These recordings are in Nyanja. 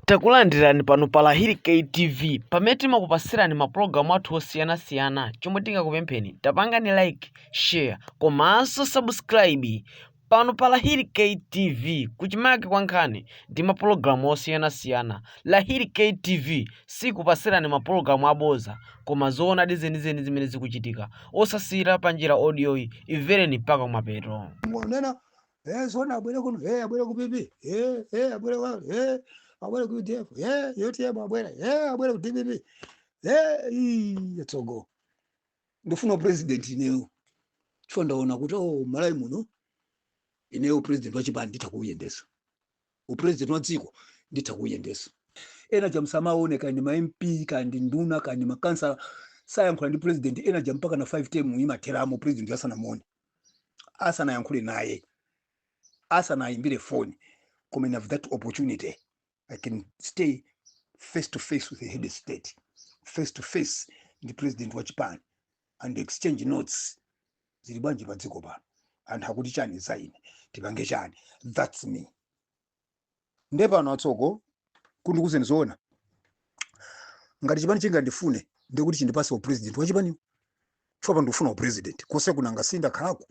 Takulandirani pano pa Lahiri K TV pamene timakupasirani ma program athu osiyana siyana chomwe tingakupempheni tapangani like, share komanso subscribe pano pa Lahiri K TV kuchimake kwa nkhani ndi ma program osiyana siyana Lahiri K TV sikupasirani ma program aboza koma zoonadi zenizeni zimene zikuchitika osasiyira panjira audio yi imvereni mpaka kumapeto. Mwanena Eh, zona abwere kuno, eh, abwere ku PP, eh, eh, abwere kwa, eh, abwere ku UDF, eh, UTM abwere, eh, abwere ku DPP, eh, ii, atsogo. Ndifuna president ineyo. Chifo ndaona kuti oh, Malawi muno ineyo president wachipani nditha kuuyendetsa. U president wa dziko nditha kuuyendesa. Enatu musamaone kandi ma MP kandi nduna kandi makansala sayankhula ndi president enatu mpaka na 5 term imatheramo president asanamuone. asanayankhule naye asanayimbire foni koma I have that opportunity i can stay face to face with the head of state face to face ndi president wa chipani and exchange notes zili bwanji pa dziko pano anthu akuti chani za ine tipange chani that's me nde pano atsogo ndikuuzeni zoona ngati chipani chingandifune ndekuti chindipase upresident wachipaniwo chifukwa pano ndikufuna upresident konse kunaku ndakhalako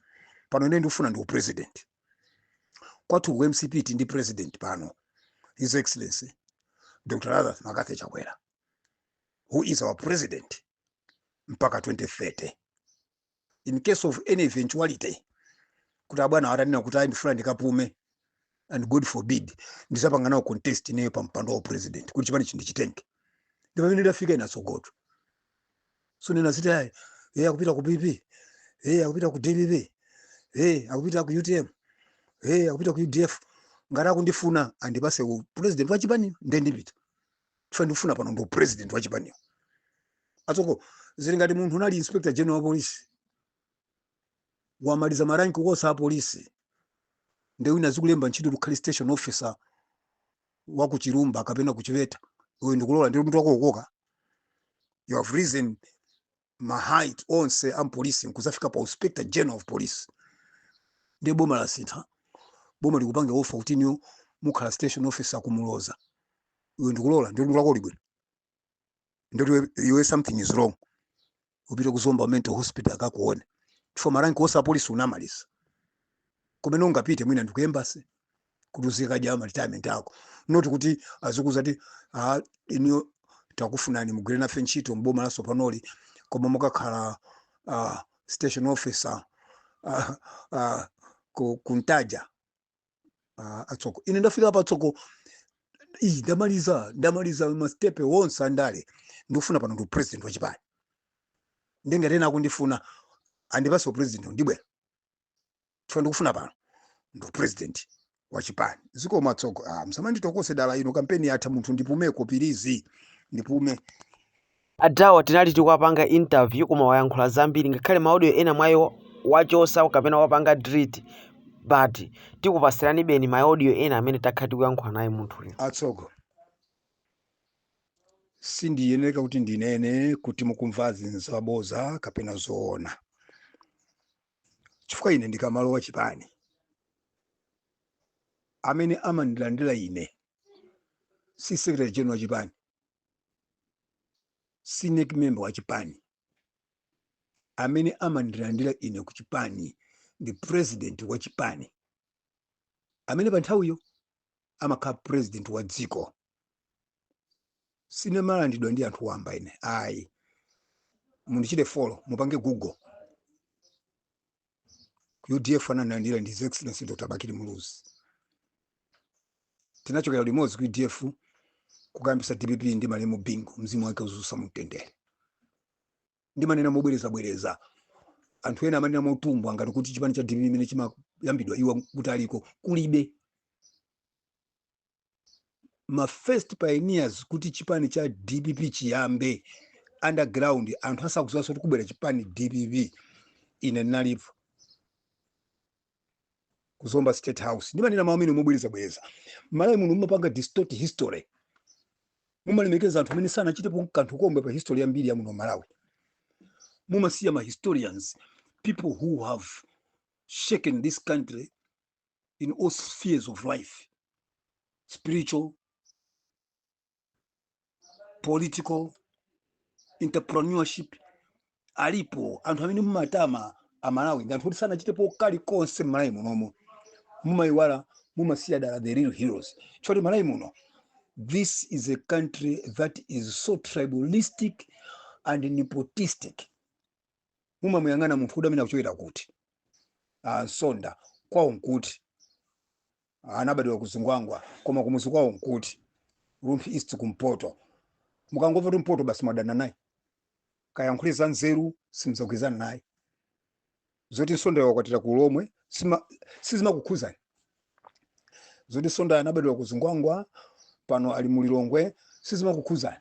pano ine ndikufuna ndi upresident kwathu ku mcp tili ndi president pano his excellency dr lazarus mccarthy chakwera who is our president mpaka 2030 in case of any eventuality kuti abwana atanena kuti ayi ndifuna ndikapume and god forbid ndizapanga nawo contest ineyo pa mpando wa upresident kuti chipanichi ndichitenge ndi pamene ndafika ine atsogotu zonena zoti ayi yeye akupita ku pp yeye akupita ku dpp yeye akupita ku utm yeye akupita ku udf ngati akundifuna andipase u president wa chipani ndendipita chifukwa ndukufuna pano ndi upresident wa chipaniwo atsogo zili ngati munthu unali inspector general wa polisi wamaliza maranki onse a polisi nde wina azikulemba ntchito ukhale station officer wa ku chilumba kapena ku chiweta iwe ndikulola nde mutu wako ukoka you have risen ma height onse a mupolisi nkuzafika pa inspector general of police ndiye boma lasintha boma likupange offer kuti inuyo mukhala station officer kumuloza iwe ndikulola ndiye mutu wako uli bwino ndiye iwe- iwe something is wrong upite kuzomba mental hospital akakuone chifukwa maranki onse apolisi unamaliza kumene ungapite mwina ndi ku embassy kuti uzikadya ma retirement ako not kuti azikuuza kuti ah, ineyo takufunani mugwire nafe ntchito mboma latsopanoli koma mukakhala uh, station officer uh, uh, ku, kuntaja uh, a Tsoka ine ndafika pa tsonga iyi ndamaliza ndamaliza mastepe onse andale ndikufuna pano ndi upresident wachipani ndiye ngati ena akundifuna andipatse upresident ndibwera chifukwa ndikufuna pano ndi upresident wa chipani zikomo a Tsoka ah, musamanditokose dala ino kampeni yatha munthu ndipumeko pilizi ndipume adawa tinali tikuwapanga interview koma wayankhula zambiri ngakhale ma audio ena mwa iwo wachosa kapena wapanga delete but tikupatsiranibeni ma audio ena amene takhala tikuyankhula naye munthuyu a Tsoka sindiyeneka kuti ndinene kuti mukumvazi nzaboza kapena zoona chifukwa ine ndikamalowa chipani amene amandilandira ine si secretary general wa chipani si NEC member wa chipani amene amandilandira ine ku chipani ndi president wa chipani amene pa nthawiyo amakhala president wa dziko sindimalandiridwa ndi anthu wamba ine ayi mundichite follow mupange google udf anandilandira ndi his excellency dr bakili muluzi tinachokera limodzi ku udf kukayambisa dpp ndi malemu bingu mzimu wake uwuse mumtendere ndimanena mobwerezabwereza anthu ena amanena motumbwa ngati kuti chipani cha dpp mmene chimayambidwa iwo akuti aliko kulibe ma first pioneers kuti chipani cha dpp chiyambe underground anthu asakudziwanso kuti kubwera chipani dpp ine ndinalipo ku zomba state house ndimanena mawu amenewa mobwerezabwereza malawi muno mumapanga distort history mumalemekeza anthu amene sanachitepo kanthu komwe pa history ya mbiri ya muno malawi mumasiya ma historians people who have shaken this country in all spheres of life spiritual political entrepreneurship alipo anthu amene mumatama amalawi ndi anthu oti sanachitepo kali konse mmalawi munomu mumayiwala mumasiya dala the real heroes chifukwa choti malawi muno this is a country that is so tribalistic and nepotistic mumamuyang'ana munthu kuti amene akuchokera kuti ah, msonda kwawo nkuti anabadwa ku zingwangwa koma kumuzi kwawo nkuti rumphi east kumpoto mukangomva kuti mpoto basi mwadana naye kayankhule za nzeru simuzagwirizana naye zoti msonda wakwatira ku lomwe sima- sizimakukhuzani zoti msonda anabadwa ku zingwangwa pano ali mulilongwe sizimakukhuzani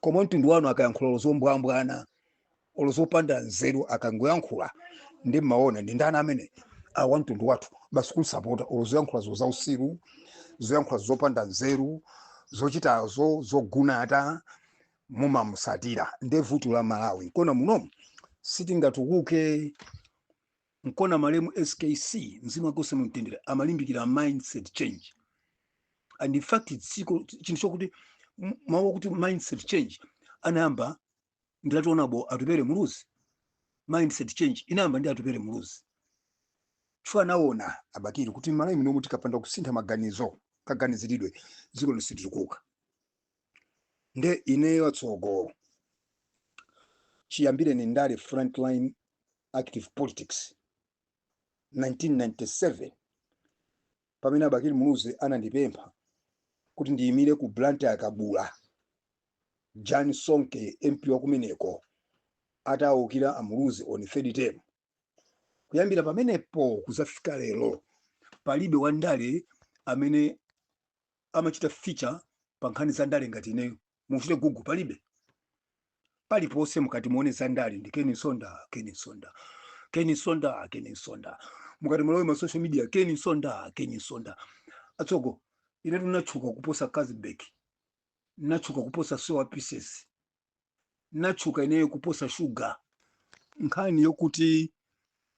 koma mtundu wanu akayankhula olo zombwambwana olo zopanda nzeru akangoyankhula ndi mmaona ndi ndani amene a wa mtundu wathu basi kumsapota olo zoyankhulazo zausiru zoyankhula zopanda nzeru zochitazo zogunata mumamusatira nde vuto la malawi nkona munomu sitingatukuke nkona malemu skc mzimu wake uuse mumtendere amalimbikira mindset change and in fact tsiko chinthu chokuti m- mawu okuti mindset change anayamba ndi right honourable atupele muluzi mindset change inayamba ndi atupele muluzi chifukwa anaona abakili kuti malawi munomu tikapanda kusintha maganizo kaganiziridwe dzikoli situkuka nde ineyo atsogo chiyambireni ndale frontline active politics 1997 pamene abakili muluzi anandipempha kuti ndiyimire ku blantyre kabula jan sonke mp wakumeneko atawukira amuluzi on third term kuyambira pamenepo kuzafika lero palibe wandale amene amachita feature pa nkhani za ndale ngati ineyo muchite google palibe paliponse mukati muone za ndale ndi Ken Msonda Ken Msonda Ken Msonda Ken Msonda mukati mulowe ma social media Ken Msonda Ken Msonda atsogo inetu natchuka kuposa Kazibek natchuka kuposa soya pieces natchuka ineyo kuposa sugar nkhani yokuti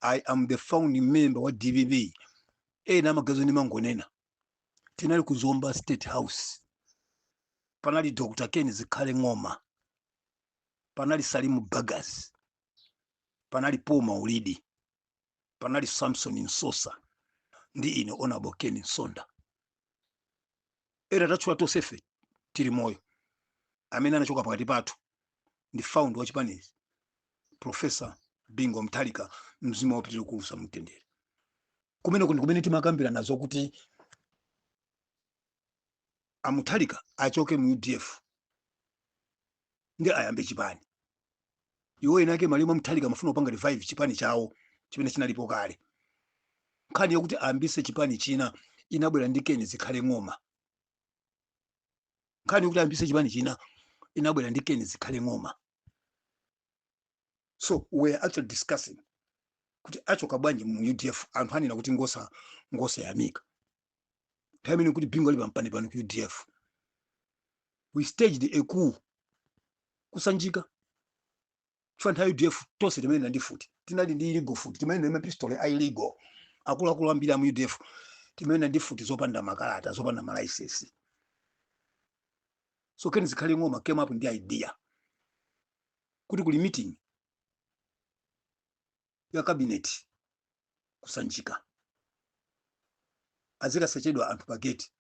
i am the founding member wa dpp ena amaganiza ndimangonena tinali ku zomba state house panali dr ken zikhale ng'oma panali salim bagus panali paul maulidi panali samson msosa ndi ine honourable ken msonda ena tatchula tonsefe tili moyo amene anachoka pakati pathu ndi founder wa chipanichi profesa bingu mutharika mzimu wawo upitire kuusa mumtendere kumeneko ndi kumene timakambirana zokuti amutharika achoke mu udf ndi ayambe chipani iwo eni ake malemu amutharika amafuna kupanga revive chipani chawo chimene chinalipo kale nkhani yokuti ayambise chipani china inabwera ndi ken zikhale ng'oma nkhani yokuti ayambise chipani china inabwera ndi ken zikhale ng'oma so we are actually discussing kuti achoka bwanji mu udf anthu anena kuti ngosa ngosayamika nthawi imene kuti bingu ali pampanipani ku udf we staged a coup ku sanjika chifukwa nthawi udf tonse timayenda ndi futi tinali ndi illegal futi timayenda ndi mapistole a illegal akuluakulu ambiri amu udf timayenda ndi futi zopanda makalata zopanda malaisensi so ken zikhale ng'oma came up ndi idea kuti kuli meeting ya cabinet ku sanjika azikasechedwa anthu pa gate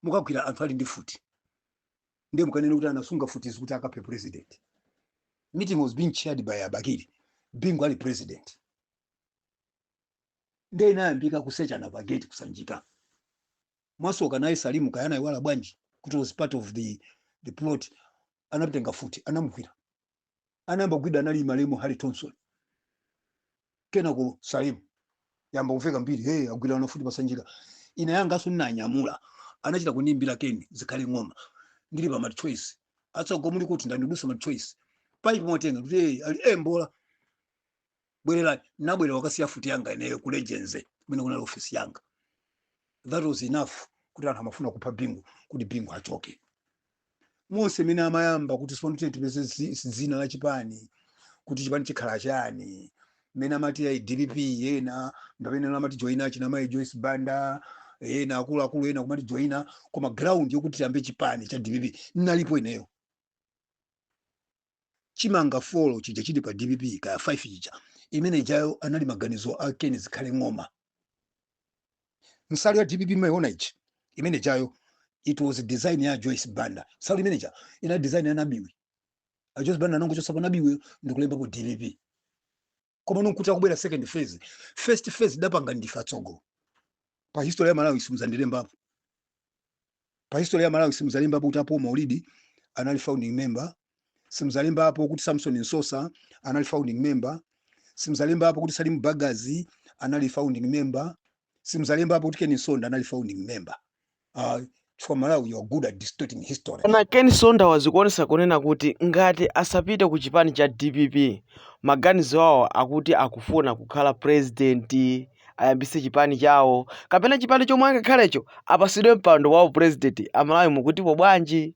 mukagwira anthu ali ndi futi ndiye mukanene kuti anasunga futizi kuti akaphe president meeting was being chaired by a bakili bingu ali president ndiye inayambika kusechana pa gate ku sanjika mwasoka naye salimu kaya anaiwala bwanji kuti was part of the, the plot anaitenga futi anamugwira anayamba kugwidwa anali malemu harry thomson kenako salimu yamba kuveka mbiri hey agwira na futi pa sanjika ine yanganso ndinanyamula anachita kundiimbira ken zikhale ng'oma ndili pa machoice atsogo muli kuti ndandidusa machoice paipi mwatenga kuti hey ali e mbola bwererani nabwerera kukasiya futi yanga ineyo ku legends kumene kunali ofisi yanga that was enough kuti anthu amafuna kupha bingu kuti bingu achoke monse mene amayamba kuti sipano tiye tipeze zi- dzina la chipani kuti chipani chikhala chani mene amati ayi dpp ena ndamene amati joina achina mayi joyce banda ena akuluakulu ena kumati joina koma ground yokuti tiyambe chipani cha dpp nalipo ineyo chimanga folo chija chili pa dpp kaya 5 chija imene ijayo anali maganizo a ken zikhale ng'oma nsalu ya dpp maiona ichi imene ijayo it was design ya joyce banda nsalu imene ija inali design ya nabiwi a joyce banda anangochotsapo nabiwi ndikulembapo dpp koma nonkuti akubwera second phase first phase dapanga ndife atsogo pa history ya malawi simuzandilembapo pa history ya malawi simuzalembapo kuti a paul maulidi anali founding member simzalembapo kuti samson msosa anali founding member simzalembapo kuti salim bagus anali founding member simzalembapo kuti ken msonda anali founding member Uh, for Malawi, you're good at distorting history. Koma Ken Msonda wazikuonesa kunena kuti ngati asapite ku chipani cha DPP maganizo awo akuti akufuna kukhala president ayambise chipani chawo kapena chipani chomwe angakhalecho apasidwe mpando wa president amalawi mukutipo bwanji